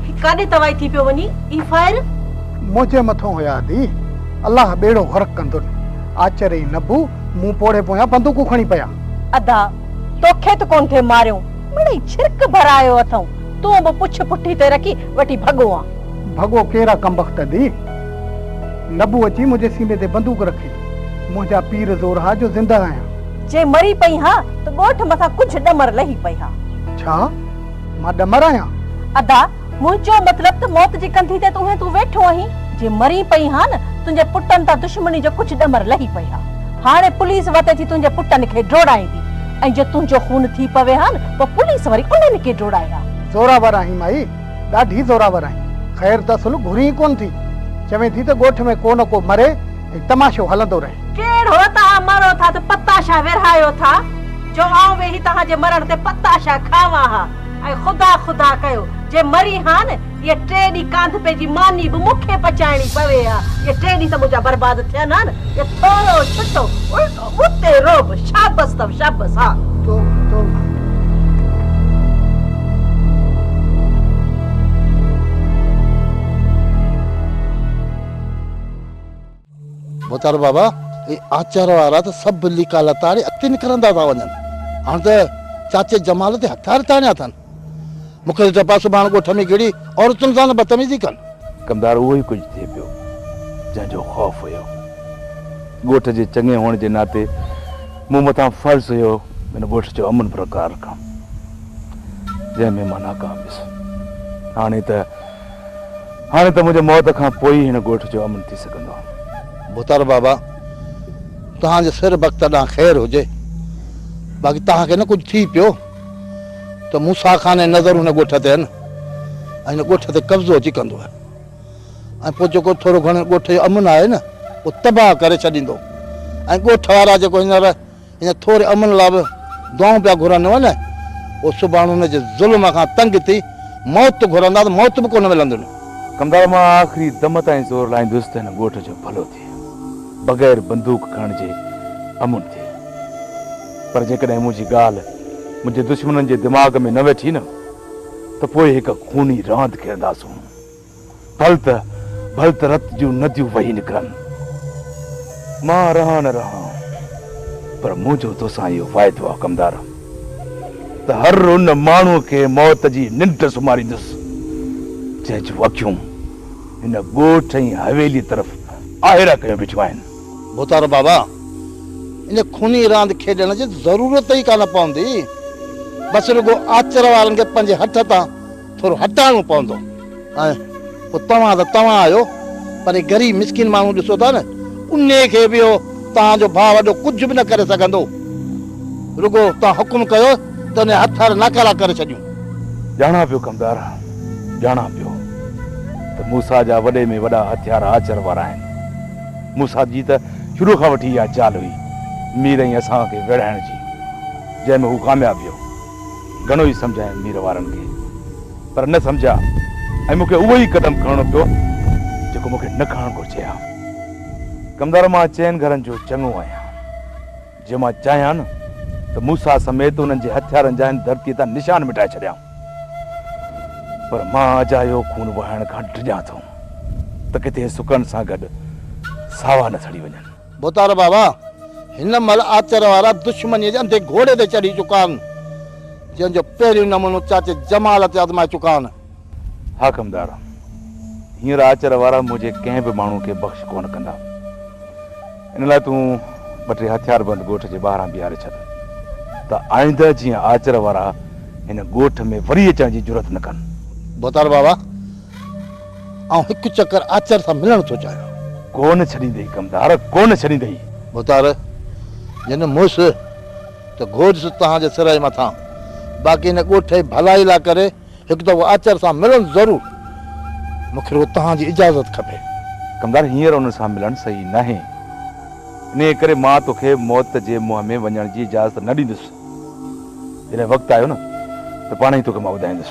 هي ڪاڏي توائي ٿي پيو وڃي هي فائر. منهنجي مٿون هيا ادي الله ٻيڙو غرق ڪندن آچر اي نبو مون پوڙهي پويان بندوقون کڻي پيا. ادا توکي ته ڪون ٿي ماريو مڙئي ڇرڪ ڀرايو اٿئون تون به پڇ پٺي تي رکي وٺي ڀڳو آ. ڀڳو ڪير آ ڪمبخت ادي نبو اچي منهنجي سيني تي بندوق رکي منهنجا پير زور ها جو زنده آهيان. جي مري پئي ها ته ڳوٺ مٿان ڪجهه ڏمر لهي پئي ها. ڇا؟ مان ڏمر آهيان؟ ادا، منهنجو مطلب ته موت جي ڪنڌي تي ته اونهين تون ويٺو آهين. جي مرين پئي ها نه، تنهنجي پٽن تان دشمني جو ڪجهه ڏمر لهي پئي ها. هاڻي پوليس وتي ٿي تنهنجي پٽن کي ڊوڙائيندي ۽ جي تنهنجو خون ٿي پوي ها نه، پوء پوليس وري انهن کي ڊوڙائي ها. زورآور آهين مائي، ڏاڍي زورآور آهين. خير ته اصل گهرين ئي ڪونه ٿي. چوين ٿي ته ڳوٺ ۾ ڪو نه ڪو مري. ۽ تماشو هلندو رهي. ڪير هو توهان مرو ٿا ته پتاشا ورهايو ٿا، جو آئون ويهي توهان جي مرڻ تي پتاشا کاوان ها ۽ خدا خدا ڪيو، جي مري هان اهي ٽي ڏينهن ڪانڌپي جي ماني به مون کي پچائڻي پوي ها، اهي ٽي ڏينهن ته منهنجا برباد ٿين هان، اهي ٿورو ڇٽو الٽو ٻوتي روب، شابس اٿم شابس ها. تو تو مان. مختيار بابا ۽ آچار وارا ته سڀ ليڪا لتاڙي اڳتي نڪرندا ٿا وڃن. هاڻ ته چاچي جمال تي هٿيار تاڻيا اٿن. مون کي ڊپ آهي سڀاڻ ڳوٺ ۾ ڪهڙي عورتن سان نه بدتميزي ڪن. ڪمدار اهو ئي ڪجهه ٿئي پيو جنهن جو خوف هيو. ڳوٺ جي چڱي هئڻ جي ناتي مون مٿان فرض هيو هن ڳوٺ جو امن برقرار رکڻ. جنهن ۾ مان ناڪام ويس. هاڻي ته هاڻي ته منهنجي موت کان پوء ئي هن ڳوٺ جو امن ٿي سگهندو. ڀتر بابا، توهان جي سر بخت ڏانهن خير هجي، باقي توهان کي نه ڪجهه ٿي پيو ته موسيٰ خان جي نظر هن ڳوٺ تي آهن ۽ هن ڳوٺ تي قبضو اچي ڪندو ۽ پوء جيڪو ٿورو گهڻو هن ڳوٺ جو امن آهي نه اهو تباهه ڪري ڇڏيندو ۽ ڳوٺ وارا جيڪو هينئر هن ٿوري امن لاء به دعائون پيا گهرن نه نه او سڀاڻ هن جي ظلم کان تنگ ٿي موت گهرندا ته موت به ڪونه ملندن. ڪنڌار مان آخري دم تائين زور لائيندس ته هن ڳوٺ جو ڀلو ٿئي بغير بندوق کڻڻ جي امن ٿئي پر جيڪڏهن منهنجي ڳالهه منهنجي دشمنن جي دماغ ۾ نه ويٺي نه ته پوء هڪ خوني راند کيڏنداسون. ڀل ته ڀل ته رت جون نديون وهي نڪرن. مان رهان نه رهان پر منهنجو توسان اهو واعدو آ ڪمدار ته هر ان ماڻهوء کي موت جي ننڊ سمهاريندس جنهن جون اکيون هن ڳوٺ ۽ حويليء طرف آهيرا ڪيون بيٺيون آهن. ڀوتارو بابا، ان خوني راند کيڏڻ جي ضرورت ئي ڪانه پوندي. بس رڳو آچر وارن کي پنهنجي هٺ تان ٿورو هٽائڻو پوندو ۽ پوء توهان ته توهان آهيو پر هي غريب مسڪين ماڻهو ڏسو ٿا نه انهي کي به اهو توهان جو ڀاء وڏو ڪجهه به نه ڪري سگهندو رڳو توهان حڪم ڪيو ته انهي جا هٿ هٿ ناڪارا ڪري ڇڏيون. ڄاڻان پيو ڪمدار ڄاڻان پيو ته موسيٰ جا وڏي ۾ وڏا هٿيار آچر وارا آهن موسيٰ جي ته شروع کان وٺي اها چال هئي مير ۽ اسان کي ويڙهائڻ جي جنهن ۾ هو ڪامياب ويو. گهڻو ئي سمجهايم مير وارن کي پر نه سمجهيا ۽ مون کي اهو ئي قدم کڻڻو پيو جيڪو مون کي نه کڻڻ گهرجي ها. ڪمدار مان چئن گهرن جو چڱو آهيان. جي مان چاهيان نه ته موسيٰ سميت انهن جي هٿيارن جا هن ڌرتيء تان نشان مٽائي ڇڏيان پر مان اجايو خون وهائڻ کان ڊڄان ٿو ته ڪٿي سڪن سان گڏ ساوا نه سڙي وڃن. ڀوتار بابا هن مهل آچر وارا دشمنيء جي انڌي گهوڙي تي چڙهي چڪا آهن، جنهن جو پهريون نمونو چاچي جمال تي آزمائي چڪا آهن. حاڪمدار! هينئر آچر وارا منهنجي ڪنهن به ماڻهو کي بخش ڪونه ڪندا. ان لاء تون ٻه ٽي هٿياربند ڳوٺ جي ٻاهران بيهاري ڇڏ، ته آئنده جيئن آچر وارا هن ڳوٺ ۾ وري اچڻ جي جرئت نه ڪن. ڀوتار بابا! آئون هڪ چڪر آچر سان ملڻ ٿو چاهيان. ڪونه ڇڏيندئي ڪمدار، ڪونه ڇڏيندئي. مختار، جنھن مئس ته گهوجس توهان جي سرء مٿان، باقي هن ڳوٺ جي ڀلائي لاء ڪري هڪ دفعو آچر سان ملڻ ضرور. مون کي رڳو توهان جي اجازت کپي. ڪمدار، هينئر ان سان ملڻ صحيح ناهي. انهيء ڪري مان تو کي موت جي منهن ۾ وڃڻ جي اجازت نه ڏيندس. جڏهن وقت آيو نه ته پاڻهي تو کي مان ٻڌائيندس.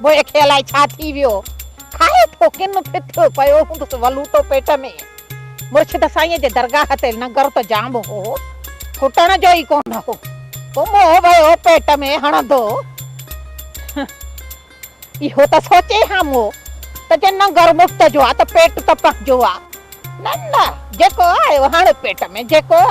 مون کي الائي ڇا ٿي ويو، کاهي ٿو ڪن ڦٿيو پيو هوندس ولوٽو پيٽ ۾. مرشد سائينء جي درگاهه تي لنگر ته جام هو، ڪٽڻ جو ئي ڪونه هو. پوء مون ويو پيٽ ۾ هڻندو. اهو ته سوچي ها مون ته جي ننگر مفت جو آ ته پيٽ ته پنهنجو آ. نه نه جيڪو آيو هڻ پيٽ ۾، جيڪو آيو.